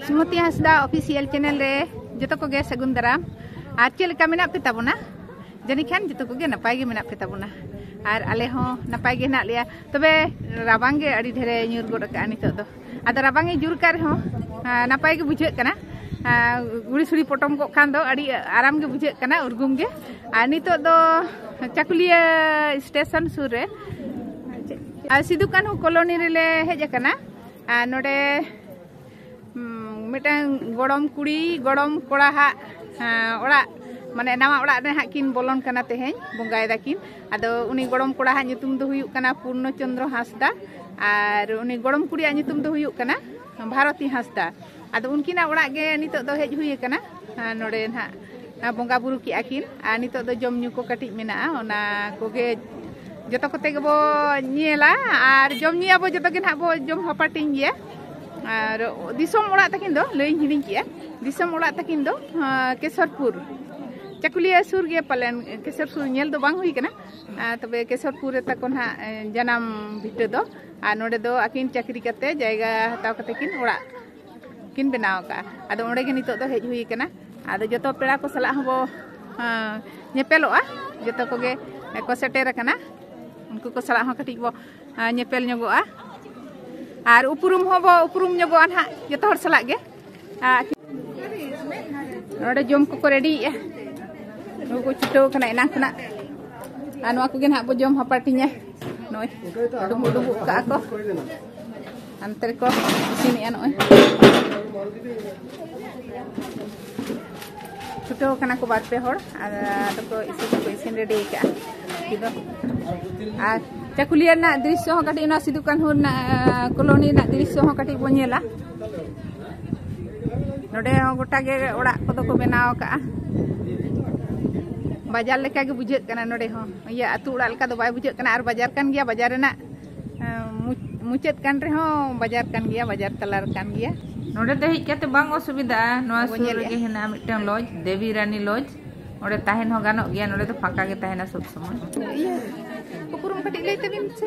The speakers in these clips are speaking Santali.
ᱥᱩᱢᱚᱛᱤ ᱦᱟᱸᱥᱫᱟ ᱚᱯᱷᱤᱥᱤᱭᱟᱞ ᱪᱮᱱᱮᱞ ᱨᱮ ᱡᱚᱛᱚ ᱠᱚᱜᱮ ᱥᱟᱹᱜᱩᱱ ᱫᱟᱨᱟᱢ ᱟᱨ ᱪᱮᱫ ᱞᱮᱠᱟ ᱢᱮᱱᱟᱜ ᱯᱮ ᱛᱟᱵᱚᱱᱟ ᱡᱟᱹᱱᱤᱡ ᱠᱷᱟᱱ ᱡᱚᱛᱚ ᱠᱚᱜᱮ ᱱᱟᱯᱟᱭ ᱜᱮ ᱢᱮᱱᱟᱜ ᱯᱮ ᱛᱟᱵᱚᱱᱟ ᱟᱨ ᱟᱞᱮ ᱦᱚᱸ ᱱᱟᱯᱟᱭ ᱜᱮ ᱦᱮᱱᱟᱜ ᱞᱮᱭᱟ ᱛᱚᱵᱮ ᱨᱟᱵᱟᱝ ᱜᱮ ᱟᱹᱰᱤ ᱰᱷᱮᱨᱮ ᱧᱩᱨ ᱜᱚᱫ ᱟᱠᱟᱜᱼᱟ ᱱᱤᱛᱚᱜ ᱫᱚ ᱟᱫᱚ ᱨᱟᱵᱟᱝ ᱮ ᱡᱩᱨ ᱠᱟᱜ ᱨᱮᱦᱚᱸ ᱱᱟᱯᱟᱭ ᱜᱮ ᱵᱩᱡᱷᱟᱹᱜ ᱠᱟᱱᱟ ᱜᱩᱲᱤ ᱥᱩᱲᱤ ᱯᱚᱴᱚᱢ ᱠᱚᱜ ᱠᱷᱟᱱ ᱫᱚ ᱟᱹᱰᱤ ᱟᱨᱟᱢ ᱜᱮ ᱵᱩᱡᱷᱟᱹᱜ ᱠᱟᱱᱟ ᱩᱨᱜᱩᱢ ᱜᱮ ᱟᱨ ᱱᱤᱛᱚᱜ ᱫᱚ ᱪᱟᱠᱩᱞᱤᱭᱟᱹ ᱥᱴᱮᱥᱚᱱ ᱥᱩᱨ ᱨᱮ ᱥᱤᱫᱩ ᱠᱟᱹᱱᱦᱩ ᱠᱚᱞᱚᱱᱤ ᱨᱮᱞᱮ ᱦᱮᱡ ᱟᱠᱟᱱᱟ ᱟᱨ ᱱᱚᱰᱮ ᱢᱤᱫᱴᱟᱝ ᱜᱚᱲᱚᱢ ᱠᱩᱲᱤ ᱜᱚᱲᱚᱢ ᱠᱚᱲᱟ ᱦᱟᱜ ᱚᱲᱟᱜ ᱢᱟᱱᱮ ᱱᱟᱣᱟ ᱚᱲᱟᱜ ᱨᱮ ᱦᱟᱸᱜ ᱠᱤᱱ ᱵᱚᱞᱚᱱ ᱠᱟᱱᱟ ᱛᱮᱦᱮᱧ ᱵᱚᱸᱜᱟᱭ ᱫᱟᱠᱤᱱ ᱟᱫᱚ ᱩᱱᱤ ᱜᱚᱲᱚᱢ ᱠᱚᱲᱟ ᱦᱟᱜ ᱧᱩᱛᱩᱢ ᱫᱚ ᱦᱩᱭᱩᱜ ᱠᱟᱱᱟ ᱯᱩᱨᱱᱚ ᱪᱚᱱᱫᱨᱚ ᱦᱟᱸᱥᱫᱟ ᱟᱨ ᱩᱱᱤ ᱜᱚᱲᱚᱢ ᱠᱩᱲᱤᱭᱟᱜ ᱧᱩᱛᱩᱢ ᱫᱚ ᱦᱩᱭᱩᱜ ᱠᱟᱱᱟ ᱵᱷᱟᱨᱚᱛᱤ ᱦᱟᱸᱥᱫᱟ ᱟᱫᱚ ᱩᱱᱠᱤᱱᱟᱜ ᱚᱲᱟᱜ ᱜᱮ ᱱᱤᱛᱚᱜ ᱫᱚ ᱦᱮᱡ ᱦᱩᱭ ᱟᱠᱟᱱᱟ ᱱᱚᱰᱮ ᱱᱟᱦᱟᱜ ᱵᱚᱸᱜᱟ ᱵᱩᱨᱩ ᱠᱮᱜᱼᱟ ᱠᱤᱱ ᱟᱨ ᱱᱤᱛᱚᱜ ᱫᱚ ᱡᱚᱢ ᱧᱩ ᱠᱚ ᱠᱟᱹᱴᱤᱡ ᱢᱮᱱᱟᱜᱼᱟ ᱚᱱᱟ ᱠᱚᱜᱮ ᱡᱚᱛᱚ ᱠᱚᱛᱮ ᱜᱮᱵᱚ ᱧᱮᱞᱟ ᱟᱨ ᱡᱚᱢ ᱧᱩᱭᱟᱵᱚ ᱡᱚᱛᱚ ᱜᱮ ᱱᱟᱦᱟᱜ ᱵᱚ ᱡᱚᱢ ᱦᱟᱯᱟᱴᱤᱧ ᱜᱮᱭᱟ ᱟᱨ ᱫᱤᱥᱚᱢ ᱚᱲᱟᱜ ᱛᱟᱹᱠᱤᱱ ᱫᱚ ᱞᱟᱹᱭᱤᱧ ᱦᱤᱲᱤᱧ ᱠᱮᱜᱼᱟ ᱫᱤᱥᱚᱢ ᱚᱲᱟᱜ ᱛᱟᱹᱠᱤᱱ ᱫᱚ ᱠᱮᱥᱚᱨᱯᱩᱨ ᱪᱟᱠᱩᱞᱤᱭᱟᱹ ᱥᱩᱨ ᱜᱮ ᱯᱟᱞᱮᱱ ᱠᱮᱥᱚᱨᱯᱩᱨ ᱧᱮᱞ ᱫᱚ ᱵᱟᱝ ᱦᱩᱭ ᱠᱟᱱᱟ ᱛᱚᱵᱮ ᱠᱮᱥᱚᱨᱯᱩᱨ ᱨᱮ ᱛᱟᱠᱚ ᱱᱟᱦᱟᱜ ᱡᱟᱱᱟᱢ ᱵᱷᱤᱴᱟᱹ ᱫᱚ ᱟᱨ ᱱᱚᱰᱮ ᱫᱚ ᱟᱹᱠᱤᱱ ᱪᱟᱹᱠᱨᱤ ᱠᱟᱛᱮ ᱡᱟᱭᱜᱟ ᱦᱟᱛᱟᱣ ᱠᱟᱛᱮ ᱠᱤᱱ ᱚᱲᱟᱜ ᱠᱤᱱ ᱵᱮᱱᱟᱣ ᱟᱠᱟᱫᱼᱟ ᱟᱫᱚ ᱚᱸᱰᱮ ᱜᱮ ᱱᱤᱛᱚᱜ ᱫᱚ ᱦᱮᱡ ᱦᱩᱭ ᱟᱠᱟᱱᱟ ᱟᱫᱚ ᱡᱚᱛᱚ ᱯᱮᱲᱟ ᱠᱚ ᱥᱟᱞᱟᱜ ᱦᱚᱸᱵᱚ ᱧᱮᱯᱮᱞᱚᱜᱼᱟ ᱡᱚᱛᱚ ᱠᱚᱜᱮ ᱠᱚ ᱥᱮᱴᱮᱨ ᱟᱠᱟᱱᱟ ᱩᱱᱠᱩ ᱠᱚ ᱥᱟᱞᱟᱜ ᱦᱚᱸ ᱠᱟᱹᱴᱤᱡ ᱵᱚ ᱧᱮᱯᱮᱞ ᱧᱚᱜᱚᱜᱼᱟ ᱟᱨ ᱩᱯᱨᱩᱢ ᱦᱚᱸᱵᱚ ᱩᱯᱨᱩᱢ ᱧᱚᱜᱚᱜᱼᱟ ᱱᱟᱦᱟᱜ ᱡᱚᱛᱚ ᱦᱚᱲ ᱥᱟᱞᱟᱜ ᱜᱮ ᱱᱚᱰᱮ ᱡᱚᱢ ᱠᱚᱠᱚ ᱨᱮᱰᱤᱭᱮᱜᱼᱟ ᱱᱩᱠᱩ ᱠᱚ ᱪᱷᱩᱴᱟᱹᱣ ᱠᱟᱱᱟ ᱮᱱᱟᱝ ᱠᱷᱚᱱᱟᱜ ᱟᱨ ᱱᱚᱣᱟ ᱠᱚᱜᱮ ᱱᱟᱦᱟᱜ ᱵᱚ ᱡᱚᱢ ᱦᱟᱯᱟᱴᱤᱧᱟ ᱱᱚᱜᱼᱚᱭ ᱰᱩᱢᱵᱩᱜ ᱰᱩᱢᱵᱩᱜ ᱠᱟᱜᱼᱟ ᱠᱚ ᱦᱟᱱᱛᱮ ᱨᱮᱠᱚ ᱤᱥᱤᱱᱮᱜᱼᱟ ᱱᱚᱜᱼᱚᱭ ᱪᱷᱩᱴᱟᱹᱣ ᱠᱟᱱᱟ ᱠᱚ ᱵᱟᱨ ᱯᱮ ᱦᱚᱲ ᱟᱫᱚ ᱠᱚ ᱤᱥᱤᱱ ᱠᱚ ᱤᱥᱤᱱ ᱨᱮᱰᱤ ᱠᱟᱜᱼᱟ ᱠᱤᱫᱚ ᱟᱨ ᱪᱟᱠᱩᱞᱤᱭᱟᱹ ᱨᱮᱱᱟᱜ ᱫᱨᱤᱥᱥᱚ ᱦᱚᱸ ᱠᱟᱹᱴᱤᱡ ᱚᱱᱟ ᱥᱤᱫᱩ ᱠᱟᱹᱱᱦᱩ ᱨᱮᱱᱟᱜ ᱠᱚᱞᱳᱱᱤ ᱨᱮᱱᱟᱜ ᱫᱨᱤᱥᱥᱚ ᱦᱚᱸ ᱠᱟᱹᱴᱤᱡ ᱵᱚᱱ ᱧᱮᱞᱟ ᱱᱚᱰᱮ ᱦᱚᱸ ᱜᱚᱴᱟ ᱜᱮ ᱚᱲᱟᱜ ᱠᱚᱫᱚ ᱠᱚ ᱵᱮᱱᱟᱣ ᱟᱠᱟᱜᱼᱟ ᱵᱟᱡᱟᱨ ᱞᱮᱠᱟ ᱜᱮ ᱵᱩᱡᱷᱟᱹᱜ ᱠᱟᱱᱟ ᱱᱚᱰᱮ ᱦᱚᱸ ᱤᱭᱟᱹ ᱟᱹᱛᱩ ᱚᱲᱟᱜ ᱞᱮᱠᱟ ᱫᱚ ᱵᱟᱭ ᱵᱩᱡᱷᱟᱹᱜ ᱠᱟᱱᱟ ᱟᱨ ᱵᱟᱡᱟᱨ ᱠᱟᱱ ᱜᱮᱭᱟ ᱵᱟᱡᱟᱨ ᱨᱮᱱᱟᱜ ᱢᱩᱪᱟᱹᱫ ᱠᱟᱱ ᱨᱮᱦᱚᱸ ᱵᱟᱡᱟᱨ ᱠᱟᱱ ᱜᱮᱭᱟ ᱵᱟᱡᱟᱨ ᱛᱟᱞᱟ ᱨᱮ ᱠᱟᱱ ᱜᱮᱭᱟ ᱱᱚᱰᱮ ᱫᱚ ᱦᱮᱡ ᱠᱟᱛᱮ ᱵᱟᱝ ᱚᱥᱩᱵᱤᱫᱷᱟ ᱱᱚᱣᱟ ᱥᱩᱨ ᱨᱮᱜᱮ ᱦᱮᱱᱟᱜᱼᱟ ᱢᱤᱫᱴᱟᱝ ᱞᱚᱡᱽ ᱫᱮᱵᱤ ᱨᱟᱱᱤ ᱞᱚᱡᱽ ᱚᱸᱰᱮ ᱛᱟᱦᱮᱱ ᱦᱚᱸ ᱜᱟᱱᱚᱜ ᱜᱮᱭᱟ ᱱᱚᱰᱮ ᱫᱚ ᱯᱷᱟᱸᱠᱟ ᱜᱮ ᱛᱟᱦᱮᱱᱟ ᱥᱚᱵ ᱥᱚᱢᱚᱭ ᱩᱯᱨᱩᱢ ᱠᱟᱹᱴᱤᱡ ᱞᱟᱹᱭ ᱛᱟᱵᱤᱱ ᱥᱮ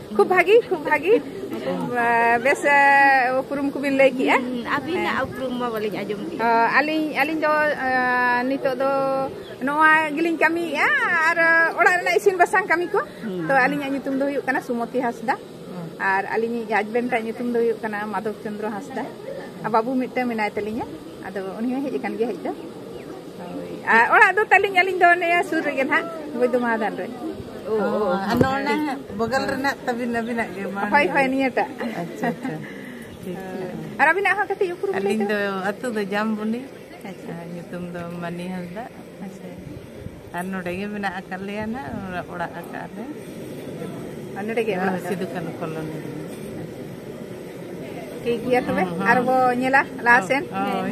ᱠᱷᱩᱵ ᱵᱷᱟᱜᱤ ᱠᱷᱩᱵ ᱵᱷᱟᱜᱤ ᱵᱮᱥ ᱩᱯᱨᱩᱢ ᱠᱚᱵᱤᱱ ᱞᱟᱹᱭ ᱠᱮᱜᱼᱟ ᱟᱹᱵᱤᱱᱟᱜ ᱩᱯᱨᱩᱢ ᱢᱟ ᱵᱟᱹᱞᱤᱧ ᱟᱸᱡᱚᱢ ᱠᱮᱜᱼᱟ ᱟᱹᱞᱤᱧ ᱟᱹᱞᱤᱧ ᱫᱚ ᱱᱤᱛᱚᱜ ᱫᱚ ᱱᱚᱣᱟ ᱜᱮᱞᱤᱧ ᱠᱟᱹᱢᱤᱭᱮᱜᱼᱟ ᱟᱨ ᱚᱲᱟᱜ ᱨᱮᱱᱟᱜ ᱤᱥᱤᱱ ᱵᱟᱥᱟᱝ ᱠᱟᱹᱢᱤ ᱠᱚ ᱛᱚ ᱟᱹᱞᱤᱧᱟᱜ ᱧᱩᱛᱩᱢ ᱫᱚ ᱦᱩᱭᱩᱜ ᱠᱟᱱᱟ ᱥᱩᱢᱚᱛᱤ ᱦᱟᱸᱥᱫᱟ ᱟᱨ ᱟᱹᱞᱤᱧᱤᱡ ᱦᱟᱡᱵᱮᱱᱰ ᱟᱜ ᱧᱩᱛᱩᱢ ᱫᱚ ᱦᱩᱭᱩᱜ ᱠᱟᱱᱟ ᱢᱟᱫᱷᱚᱵ ᱪᱚᱱᱫᱨᱚ ᱦᱟᱸᱥᱫᱟ ᱟᱨ ᱵᱟᱹᱵᱩ ᱢᱤᱫᱴᱟᱝ ᱢᱮᱱᱟᱭ ᱛᱟᱹᱞᱤᱧᱟ ᱟᱫᱚ ᱩᱱᱤ ᱦᱚᱸ ᱦᱮᱡ ᱟᱠᱟᱱ ᱜᱮᱭᱟ ᱦᱮᱡ ᱫᱚ ᱟᱨ ᱚᱲᱟᱜ ᱫᱚ ᱛᱟᱹᱞᱤᱧ ᱟᱹᱞᱤᱧ ᱫᱚ ᱱᱤᱭᱟᱹ ᱥᱩᱨ ᱨᱮᱜᱮ ᱱᱟᱦᱟᱜ ᱵᱚᱭᱫᱚᱢᱟᱫᱟᱱ ᱨᱮ ᱟᱨ ᱱᱚᱰᱮ ᱵᱚᱜᱚᱞ ᱨᱮᱱᱟᱜ ᱛᱟᱹᱵᱤᱱ ᱟᱹᱵᱤᱱᱟᱜ ᱜᱮ ᱢᱟ ᱦᱳᱭ ᱦᱳᱭ ᱱᱤᱭᱟᱹᱴᱟᱜ ᱟᱪᱪᱷᱟ ᱟᱪᱪᱷᱟ ᱴᱷᱤᱠ ᱟᱨ ᱟᱹᱵᱤᱱᱟᱜ ᱦᱚᱸ ᱠᱟᱹᱴᱤᱡ ᱩᱯᱨᱩᱢ ᱞᱟᱹᱭ ᱟᱹᱞᱤᱧ ᱫᱚ ᱟᱹᱛᱩ ᱫᱚ ᱡᱟᱢᱵᱚᱱᱤ ᱟᱪᱪᱷᱟ ᱧᱩᱛᱩᱢ ᱫᱚ ᱢᱟᱹᱱᱤ ᱦᱟᱸᱥᱫᱟ ᱟᱪᱪᱷᱟ ᱟᱨ ᱱᱚᱰᱮ ᱜᱮ ᱢᱮᱱᱟᱜ ᱟᱠᱟᱫ ᱞᱮᱭᱟ ᱱᱟᱦᱟᱜ ᱚᱲᱟᱜ ᱟᱠᱟᱫ ᱞᱮ ᱟᱨ ᱱᱚᱰᱮ ᱜᱮ ᱚᱲᱟᱜ ᱥᱤᱫᱩ ᱠᱟᱹᱱᱩ ᱠᱚᱞᱚᱱᱤ ᱨᱮ ᱴᱷᱤᱠ ᱜᱮᱭᱟ ᱛᱚᱵᱮ ᱟᱨ ᱵᱚ ᱧᱮᱞᱟ ᱞᱟᱦᱟ ᱥᱮᱱ ᱦᱳᱭ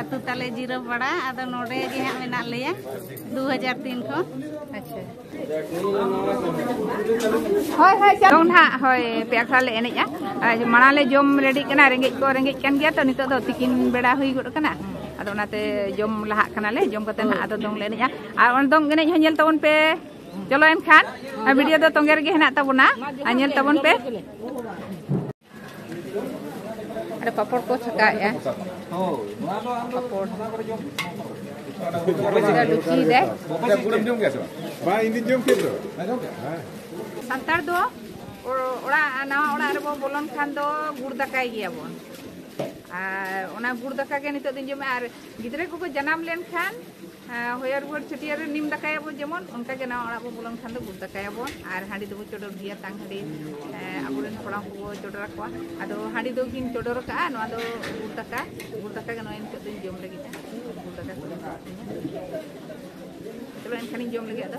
ᱟᱹᱛᱩ ᱛᱟᱞᱮ ᱡᱤᱨᱟᱹ ᱯᱟᱲᱟ ᱟᱫᱚ ᱱᱚᱰᱮ ᱜᱮ ᱦᱟᱸᱜ ᱢᱮᱱᱟᱜ ᱞᱮᱭᱟ ᱫᱩ ᱦᱟᱡᱟᱨ ᱛᱤᱱ ᱠᱷᱚᱱ ᱟᱪᱪᱷᱟ ᱦᱳᱭ ᱦᱳᱭ ᱪᱟᱞᱟᱣ ᱱᱟᱦᱟᱜ ᱦᱳᱭ ᱯᱮ ᱟᱠᱷᱲᱟ ᱞᱮ ᱮᱱᱮᱡᱼᱟ ᱟᱨ ᱢᱟᱲᱟᱝ ᱞᱮ ᱡᱚᱢ ᱨᱮᱰᱤᱜ ᱠᱟᱱᱟ ᱨᱮᱸᱜᱮᱡ ᱠᱚ ᱨᱮᱸᱜᱮᱡ ᱠᱟᱱ ᱜᱮᱭᱟ ᱛᱚ ᱱᱤᱛᱚᱜ ᱫᱚ ᱛᱤᱠᱤᱱ ᱵᱮᱲᱟ ᱦᱩᱭ ᱜᱚᱫ ᱠᱟᱱᱟ ᱟᱫᱚ ᱚᱱᱟᱛᱮ ᱡᱚᱢ ᱞᱟᱦᱟᱜ ᱠᱟᱱᱟᱞᱮ ᱡᱚᱢ ᱠᱟᱛᱮ ᱱᱟᱦᱟᱜ ᱟᱫᱚ ᱫᱚᱝ ᱞᱮ ᱮᱱᱮᱡᱼᱟ ᱟᱨ ᱚᱱᱟ ᱫᱚᱝ ᱮᱱᱮᱡ ᱦᱚᱸ ᱧᱮᱞ ᱛᱟᱵᱚᱱ ᱯᱮ ᱪᱚᱞᱚ ᱮᱱᱠᱷᱟᱱ ᱵᱷᱤᱰᱤᱭᱳ ᱫᱚ ᱛᱚᱸᱜᱮ ᱨᱮᱜᱮ ᱦᱮᱱᱟᱜ ᱛᱟᱵᱚᱱᱟ ᱟᱨ ᱧᱮᱞ ᱛᱟᱵᱚᱱ ᱯᱮ ᱟᱨ ᱯᱟᱯᱚᱲ ᱠᱚ ᱪᱷᱟᱠᱟᱭᱮᱜᱼᱟ ᱯᱟᱯᱚᱲ ᱰᱩᱠᱤᱭᱮᱫᱟᱭ ᱵᱟᱝ ᱤᱧ ᱡᱚᱢ ᱠᱮᱫ ᱫᱚ ᱥᱟᱱᱛᱟᱲ ᱫᱚ ᱚᱲᱟᱜ ᱱᱟᱣᱟ ᱚᱲᱟᱜ ᱨᱮᱵᱚ ᱵᱚᱞᱚᱱ ᱠᱷᱟᱱ ᱫᱚ ᱜᱩᱲ ᱫᱟᱠᱟᱭ ᱜᱮᱭᱟᱵᱚᱱ ᱟᱨ ᱚᱱᱟ ᱜᱩᱲ ᱫᱟᱠᱟ ᱜᱮ ᱱᱤᱛᱚᱜ ᱫᱚᱧ ᱡᱚᱢᱟ ᱟᱨ ᱜᱤᱫᱽᱨᱟᱹ ᱠᱚᱠᱚ ᱡᱟᱱᱟᱢ ᱞᱮᱱᱠᱷᱟᱱ ᱦᱚᱭᱟᱨ ᱜᱚᱲ ᱪᱷᱟᱹᱴᱭᱟᱹᱨ ᱨᱮ ᱱᱤᱢ ᱫᱟᱠᱟᱭᱟᱵᱚᱱ ᱡᱮᱢᱚᱱ ᱚᱱᱠᱟ ᱜᱮ ᱱᱟᱣᱟ ᱚᱲᱟᱜ ᱵᱚ ᱵᱚᱞᱚᱱ ᱠᱷᱟᱱ ᱫᱚ ᱜᱩᱲ ᱫᱟᱠᱟᱭᱟᱵᱚᱱ ᱟᱨ ᱦᱟᱺᱰᱤ ᱫᱚᱵᱚ ᱪᱚᱰᱚᱨ ᱜᱮᱭᱟ ᱛᱟᱝ ᱦᱟᱺᱰᱤ ᱟᱵᱚᱨᱮᱱ ᱠᱚᱲᱟ ᱠᱚᱵᱚ ᱪᱚᱰᱚᱨ ᱟᱠᱚᱣᱟ ᱟᱫᱚ ᱦᱟᱺᱰᱤ ᱫᱚ ᱠᱤᱱ ᱪᱚᱰᱚᱨ ᱠᱟᱜᱼᱟ ᱱᱚᱣᱟ ᱫᱚ ᱜᱩᱲ ᱫᱟᱠᱟ ᱜᱩᱲ ᱫᱟᱠᱟ ᱜᱮ ᱱᱚᱜᱼᱚᱭ ᱱᱤᱛᱚᱜ ᱫᱚᱧ ᱡᱚᱢ ᱞᱟᱹᱜᱤᱫ ᱜᱩᱲ ᱫᱟᱠᱟ ᱠᱚ ᱪᱚᱞᱚ ᱮᱱᱠᱷᱟᱱᱤᱧ ᱡᱚᱢ ᱞᱟᱹᱜᱤᱫ ᱟᱫᱚ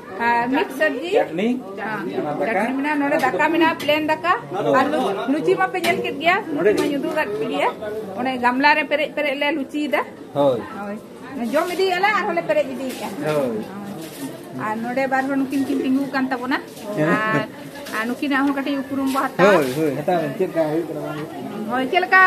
ᱢᱤᱫ ᱥᱚᱵᱡᱤ ᱪᱟᱴᱱᱤ ᱪᱟᱴᱱᱤ ᱢᱮᱱᱟᱜᱼᱟ ᱱᱚᱰᱮ ᱫᱟᱠᱟ ᱢᱮᱱᱟᱜᱼᱟ ᱯᱞᱮᱱ ᱫᱟᱠᱟ ᱟᱨ ᱞᱩᱪᱤ ᱢᱟᱯᱮ ᱧᱮᱞ ᱠᱮᱫ ᱜᱮᱭᱟ ᱞᱩᱪᱤ ᱢᱟᱧ ᱩᱫᱩᱜ ᱟᱠᱟᱫ ᱯᱮ ᱜᱮᱭᱟ ᱚᱱᱮ ᱜᱟᱢᱞᱟ ᱨᱮ ᱯᱮᱨᱮᱡ ᱯᱮᱨᱮᱡ ᱞᱮ ᱞᱩᱪᱤᱭᱮᱫᱟ ᱦᱳᱭ ᱦᱳᱭ ᱡᱚᱢ ᱤᱫᱤᱭᱮᱫᱼᱟ ᱞᱮ ᱟᱨᱦᱚᱸ ᱞᱮ ᱯᱮᱨᱮᱡ ᱤᱫᱤᱭᱮᱫᱼᱟ ᱦᱳᱭ ᱟᱨ ᱱᱚᱰᱮ ᱵᱟᱨ ᱦᱚᱲ ᱱᱩᱠᱤᱱ ᱠᱤᱱ ᱛᱤᱸᱜᱩ ᱟᱠᱟᱱ ᱛᱟᱵᱚᱱᱟ ᱟᱨ ᱟᱨ ᱱᱩᱠᱤᱱᱟᱜ ᱦᱚᱸ ᱠᱟᱹᱴᱤᱡ ᱩᱯᱨᱩᱢ ᱵᱚ ᱦᱟᱛᱟᱣᱟ ᱦᱳᱭ ᱦᱳᱭ ᱦᱟᱛᱟᱣ ᱪᱮᱫ ᱞᱮᱠᱟ ᱦᱩᱭᱩᱜ ᱠᱟᱱᱟ ᱦᱳᱭ ᱪᱮᱫ ᱞᱮᱠᱟ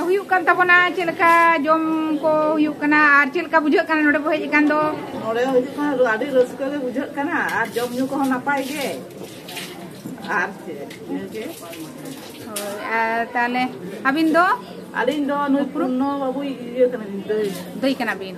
ᱦᱩᱭᱩᱜ ᱠᱟᱱ ᱛᱟᱵᱚᱱᱟ ᱪᱮᱫ ᱞᱮᱠᱟ ᱡᱚᱢ ᱠᱚ ᱦᱩᱭᱩᱜ ᱠᱟᱱᱟ ᱟᱨ ᱪᱮᱫ ᱞᱮᱠᱟ ᱵᱩᱡᱷᱟᱹᱜ ᱠᱟᱱᱟ ᱱᱚᱰᱮ ᱵᱚ ᱦᱮᱡ ᱟᱠᱟᱱ ᱫᱚ ᱱᱚᱰᱮ ᱦᱩᱭᱩᱜ ᱠᱟᱱᱟ ᱟᱹᱰᱤ ᱨᱟᱹᱥᱠᱟᱹ ᱜᱮ ᱵᱩᱡᱷᱟᱹᱜ ᱠᱟᱱᱟ ᱟᱨ ᱡᱚᱢ ᱧᱩ ᱠᱚᱦᱚᱸ ᱱᱟᱯᱟᱭ ᱜᱮ ᱟᱨ ᱪᱮᱫ ᱤᱱᱟᱹᱜᱮ ᱦᱳᱭ ᱟᱨ ᱛᱟᱦᱚᱞᱮ ᱟᱹᱵᱤᱱ ᱫᱚ ᱟᱹᱞᱤᱧ ᱫᱚ ᱱᱩᱭ ᱯᱩᱨᱱᱚ ᱵᱟᱹᱵᱩᱭ ᱤᱭᱟᱹ ᱠᱟᱱᱟᱞᱤᱧ ᱫᱟᱹᱭ ᱫᱟᱹᱭ ᱠᱟᱱᱟ ᱵᱤᱱ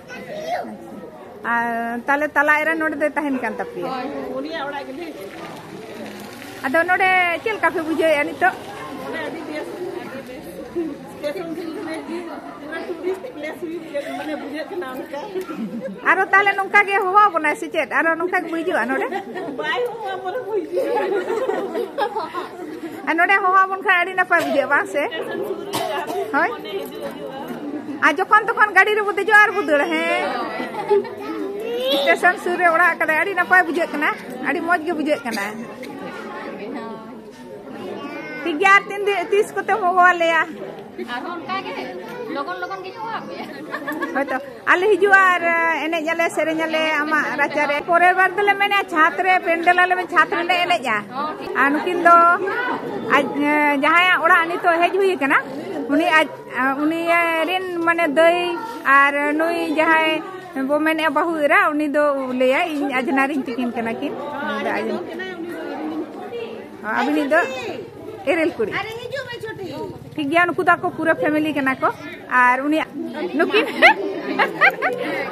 ᱛᱟᱦᱞᱮ ᱛᱟᱞᱟ ᱮᱨᱟ ᱱᱚᱰᱮ ᱫᱚᱭ ᱛᱟᱦᱮᱱ ᱠᱟᱱ ᱛᱟᱯᱮᱭᱟ ᱩᱱᱤᱭᱟᱜ ᱚᱲᱟᱜ ᱜᱮᱞᱮ ᱟᱫᱚ ᱱᱚᱰᱮ ᱪᱮᱫ ᱞᱮᱠᱟ ᱯᱮ ᱵᱩᱡᱷᱟᱹᱣᱮᱫᱼᱟ ᱱᱤᱛᱚᱜ ᱱᱚᱰᱮ ᱟᱹᱰᱤ ᱵᱮᱥ ᱟᱨᱚ ᱛᱟᱦᱞᱮ ᱱᱚᱝᱠᱟ ᱜᱮ ᱦᱚᱦᱚ ᱵᱚᱱᱟᱭ ᱥᱮ ᱪᱮᱫ ᱟᱨᱚ ᱱᱚᱝᱠᱟ ᱜᱮ ᱦᱤᱡᱩᱜᱼᱟ ᱱᱚᱰᱮ ᱟᱨ ᱱᱚᱰᱮ ᱦᱚᱦᱚ ᱵᱚᱱ ᱠᱷᱟᱱ ᱟᱹᱰᱤ ᱱᱟᱯᱟᱭ ᱵᱩᱡᱷᱟᱹᱜᱼᱟ ᱵᱟᱝ ᱥᱮ ᱦᱳᱭ ᱟᱨ ᱡᱚᱠᱷᱚᱱ ᱛᱚᱠᱷᱚᱱ ᱜᱟᱹᱰᱤ ᱨᱮᱵᱚ ᱫᱮᱡᱚᱜᱼᱟ ᱟᱨ ᱵᱚ ᱫᱟᱹᱲᱟ ᱦᱮᱸ ᱥᱴᱮᱥᱚᱱ ᱥᱩᱨ ᱨᱮ ᱚᱲᱟᱜ ᱠᱟᱫᱟᱭ ᱟᱹᱰᱤ ᱱᱟᱯᱟᱭ ᱵᱩᱡᱷᱟᱹᱜ ᱠᱟᱱᱟ ᱟᱹᱰᱤ ᱢᱚᱡᱽ ᱜᱮ ᱵᱩᱡᱷᱟᱹᱜ ᱠᱟᱱᱟ ᱴᱷᱤᱠ ᱜᱮᱭᱟ ᱟᱨ ᱛᱤᱱ ᱛᱤᱥ ᱠᱚᱛᱮᱢ ᱦᱚᱦᱚᱣᱟᱞᱮᱭᱟ ᱟᱨᱦᱚᱸ ᱚᱱᱠᱟ ᱜᱮ ᱞᱚᱜᱚᱱ ᱞᱚᱜᱚᱱ ᱜᱤᱧ ᱦᱚᱦᱚᱣᱟᱯᱮᱭᱟ ᱦᱳᱭᱛᱚ ᱟᱞᱮ ᱦᱤᱡᱩᱜᱼᱟ ᱟᱨ ᱮᱱᱮᱡ ᱟᱞᱮ ᱥᱮᱨᱮᱧ ᱟᱞᱮ ᱟᱢᱟᱜ ᱨᱟᱪᱟ ᱨᱮ ᱯᱚᱨᱮᱨ ᱵᱟᱨ ᱫᱚᱞᱮ ᱢᱮᱱᱟ ᱪᱷᱟᱛ ᱨᱮ ᱯᱮᱱᱰᱮᱞ ᱟᱞᱮ ᱪᱷᱟᱛ ᱨᱮᱞᱮ ᱮᱱᱮᱡᱟ ᱟᱨ ᱱᱩᱠᱤᱱ ᱫᱚ ᱟᱡ ᱡᱟᱦᱟᱸᱭᱟᱜ ᱚᱲᱟᱜ ᱱᱤᱛᱚᱜ ᱦᱮᱡ ᱦᱩᱭ ᱟᱠᱟᱱᱟ ᱩᱱᱤ ᱟᱡ ᱩᱱᱤ ᱨᱮᱱ ᱢᱟᱱᱮ ᱫᱟᱹᱭ ᱟᱨ ᱱᱩᱭ ᱡᱟᱦᱟᱸᱭ ᱵᱚ ᱢᱮᱱᱮᱜᱼᱟ ᱵᱟᱹᱦᱩ ᱮᱨᱟ ᱩᱱᱤ ᱫᱚ ᱞᱟᱹᱭᱟ ᱤᱧ ᱟᱡᱽᱱᱟ ᱨᱤᱧ ᱛᱤᱠᱤᱱ ᱠᱟᱱᱟ ᱠᱤᱱ ᱟᱹᱵᱤᱱᱤᱡ ᱫᱚ ᱮᱨᱮᱞ ᱠᱩᱲᱤ ᱴᱷᱤᱠ ᱜᱮᱭᱟ ᱱᱩᱠᱩ ᱫᱚ ᱟᱠᱚ ᱯᱩᱨᱟᱹ ᱯᱷᱮᱢᱤᱞᱤ ᱠᱟᱱᱟ ᱠᱚ ᱟᱨ ᱩᱱᱤ ᱱᱩᱠᱤᱱ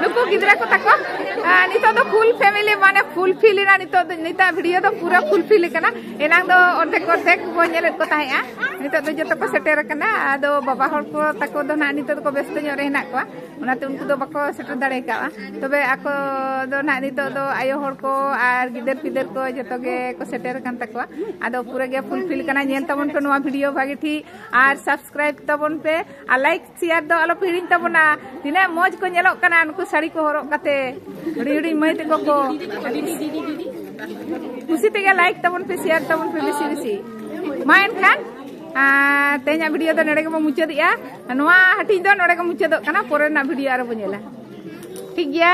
ᱱᱩᱠᱩ ᱜᱤᱫᱽᱨᱟᱹ ᱠᱚ ᱛᱟᱠᱚ ᱱᱤᱛᱚᱜ ᱫᱚ ᱯᱷᱩᱞ ᱯᱷᱮᱢᱤᱞᱤ ᱢᱟᱱᱮ ᱯᱷᱩᱞ ᱯᱷᱤᱞ ᱮᱱᱟ ᱱᱤᱛᱚᱜ ᱫᱚ ᱱᱤᱛᱟᱜ ᱵᱷᱤᱰᱤᱭᱳ ᱫᱚ ᱯᱩᱨᱟᱹ ᱯᱷᱩᱞ ᱯᱷᱤᱞ ᱠᱟᱱᱟ ᱮᱱᱟᱝ ᱫᱚ ᱚᱨᱫᱷᱮᱠ ᱚᱨᱫᱷᱮᱠ ᱵᱚ ᱧᱮᱞᱮᱫ ᱠᱚ ᱛᱟᱦᱮᱸᱜᱼᱟ ᱱᱤᱛᱚᱜ ᱫᱚ ᱡᱚᱛᱚ ᱠᱚ ᱥᱮᱴᱮᱨ ᱟᱠᱟᱱᱟ ᱟᱫᱚ ᱵᱟᱵᱟ ᱦᱚᱲ ᱠᱚ ᱛᱟᱠᱚ ᱫᱚ ᱱᱟᱜ ᱱᱤᱛᱚᱜ ᱫᱚᱠᱚ ᱵᱮᱥᱛᱚ ᱧᱚᱜ ᱨᱮ ᱦᱮᱱᱟᱜ ᱠᱚᱣᱟ ᱚᱱᱟᱛᱮ ᱩᱱᱠᱩ ᱫᱚ ᱵᱟᱠᱚ ᱥᱮᱴᱮᱨ ᱫᱟᱲᱮ ᱠᱟᱜᱼᱟ ᱛᱚᱵᱮ ᱟᱠᱚ ᱫᱚ ᱱᱟᱦᱟᱜ ᱱᱤᱛᱚᱜ ᱫᱚ ᱟᱭᱳ ᱦᱚᱲ ᱠᱚ ᱟᱨ ᱜᱤᱫᱟᱹᱨ ᱯᱤᱫᱟᱹᱨ ᱠᱚ ᱡᱚᱛᱚ ᱜᱮ ᱠᱚ ᱥᱮᱴᱮᱨ ᱟᱠᱟᱱ ᱛᱟᱠᱚᱣᱟ ᱟᱫᱚ ᱯᱩᱨᱟᱹ ᱜᱮ ᱯᱷᱩᱞᱯᱷᱤᱞ ᱠᱟᱱᱟ ᱧᱮᱞ ᱛᱟᱵᱚᱱ ᱯᱮ ᱱᱚᱣᱟ ᱵᱷᱤᱰᱤᱭᱳ ᱵᱷᱟᱜᱮ ᱴᱷᱤᱠ ᱟᱨ ᱥᱟᱵᱥᱠᱨᱟᱭᱤᱵ ᱛᱟᱵᱚᱱ ᱯᱮ ᱟᱨ ᱞᱟᱭᱤᱠ ᱥᱮᱭᱟᱨ ᱫᱚ ᱟᱞᱚ ᱯᱮ ᱦᱤᱲᱤᱧ ᱛᱟᱵᱚᱱᱟ ᱛᱤᱱᱟᱹᱜ ᱢᱚᱡᱽ ᱠᱚ ᱧᱮᱞᱚᱜ ᱠᱟᱱᱟ ᱱᱩᱠᱩ ᱥᱟᱹᱲᱤ ᱠᱚ ᱦᱚᱨᱚᱜ ᱠᱟᱛᱮ ᱦᱩᱰᱤᱧ ᱦᱩᱰᱤᱧ ᱢᱟᱹᱭ ᱛᱟᱠᱚ ᱠᱚ ᱠᱩᱥᱤ ᱛᱮᱜᱮ ᱞᱟᱭᱤᱠ ᱛᱟᱵᱚᱱ ᱯᱮ ᱥᱮᱭᱟᱨ ᱛᱟᱵᱚᱱ ᱯᱮ ᱵᱮᱥᱤ ᱵᱮᱥᱤ ᱢᱟ ᱮᱱᱠᱷᱟᱱ ᱛᱮᱦᱮᱧᱟᱜ ᱵᱷᱤᱰᱤᱭᱳ ᱫᱚ ᱱᱚᱰᱮ ᱜᱮᱵᱚᱱ ᱢᱩᱪᱟᱹᱫᱮᱜᱼᱟ ᱱᱚᱣᱟ ᱦᱟᱹᱴᱤᱧ ᱫᱚ ᱱᱚᱰᱮ ᱜᱮ ᱢᱩᱪᱟᱹᱫᱚᱜ ᱠᱟᱱᱟ ᱯᱚᱨᱮ ᱨᱮᱱᱟᱜ ᱵᱷᱤᱰᱤᱭᱳ ᱟᱨᱚ ᱵᱚ ᱧᱮᱞᱟ ᱴᱷᱤᱠ ᱜᱮᱭᱟ